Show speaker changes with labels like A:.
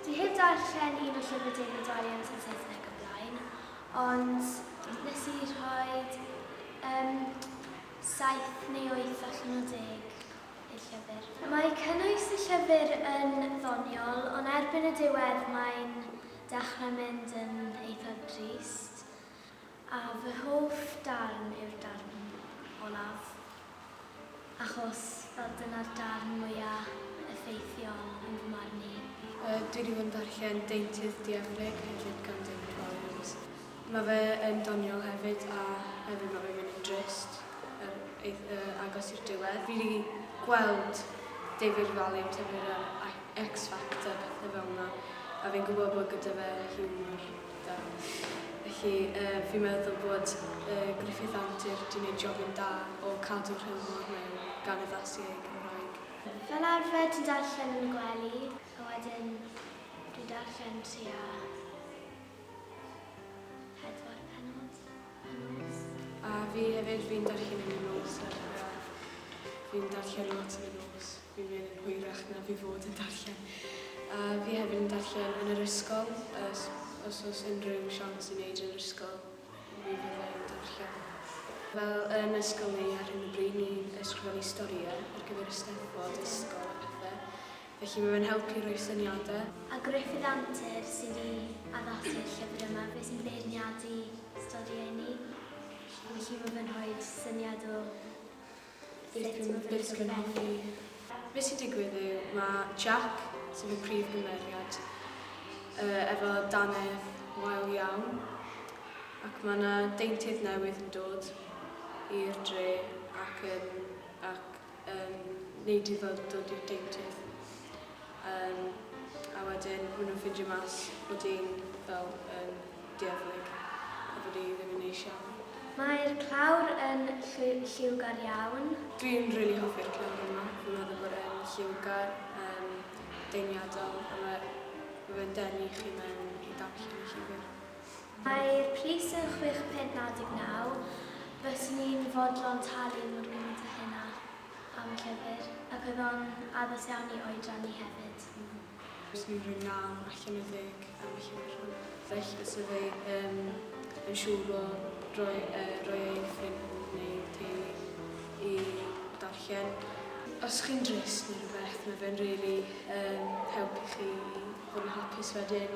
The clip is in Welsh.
A: Dwi heb darllen un o llyfr David Walliams yn Saesneg o blaen, ond nes i rhoi um, saith neu oeth allan o deg i'r llyfr. Mae cynnwys y llyfr yn ddoniol, ond erbyn y diwedd mae'n Dechrau mynd yn eitha drist, a fy hoff darn yw'r darn olaf, achos fel dyna'r darn mwya effeithiol yn fy marn i. Dwi 'di bod yn darllen Deintydd Dieflig hefyd gan David Walliams. Mae fe yn doniol hefyd a hefyd mae fe'n mynd yn drist yn eith- yy agos i'r diwedd. Fi 'di gweld David Ravalli yn tyfu ar yr I- X Factor a pethe fel 'na a fi'n gwbod bod gyda fe hiwmor da. Felly yy fi'n meddwl bod yy Griffith Antur 'di neud jobyn da o cadw'r hiwmor mewn gan addasu ei Gymraeg. Fel arfer ti'n darllen yn y gwely a wedyn dwi'n darllen tua Pedwar penod y nos. A fi hefyd, fi'n darllen yn y nos ar y radd. Fi'n darllen lot yn y nos. Fi'n mynd yn hwyrach na fi fod yn darllen. A fi hefyd yn darllen yn yr ysgol, os, os oes unrhyw siawns i wneud yn yr ysgol, mi fydda i'n darllen. Fel yn ysgol ni ar hyn o bryd, ni'n ysgrifennu storïau ar gyfer y Steddfod ysgol a pethau. felly mae fe'n helpu rhoi syniadau. A Gruffydd Antur sydd wedi addasu'r llyfr yma, fe sy'n beirniadu storïau ni, felly mae fe'n rhoi syniad o sut mae fe'n ysgrifennu. Be sy'n digwydd yw, mae Jack, sef y prif gymeriad, efo dannedd wael iawn ac mae 'na deintydd newydd yn dod i'r dre ac yn ac Yym, neu di fel dod i'r deintydd. Yym, a wedyn ma' nhw'n ffindio mas bod hi'n fel yn dieflig a bod hi ddim yn neis iawn. Mae'r clawr yn lliwgar iawn. Dwi'n rili hoffi'r clawr yma. Fi'n meddwl bod e'n lliwgar, yym, deimliadol a ma' ma' fe'n denu chi mewn i ddarllen y llyfr. Mae'r pris yn chwech punt naw deg naw. Byswn i'n fodlon talu mor gymaint â hynna am y llyfr, ac oedd o'n addas iawn i oedran i hefyd. Byswn i'n rhoi naw allan o ddeg am y llyfr hwn. Felly bysaf i ddim yn siŵr o roi e roi e i ffrind neu teulu i darllen. Os chi'n drist neu rhywbeth, mae fe'n rili yn helpu chi i fod yn hapus wedyn.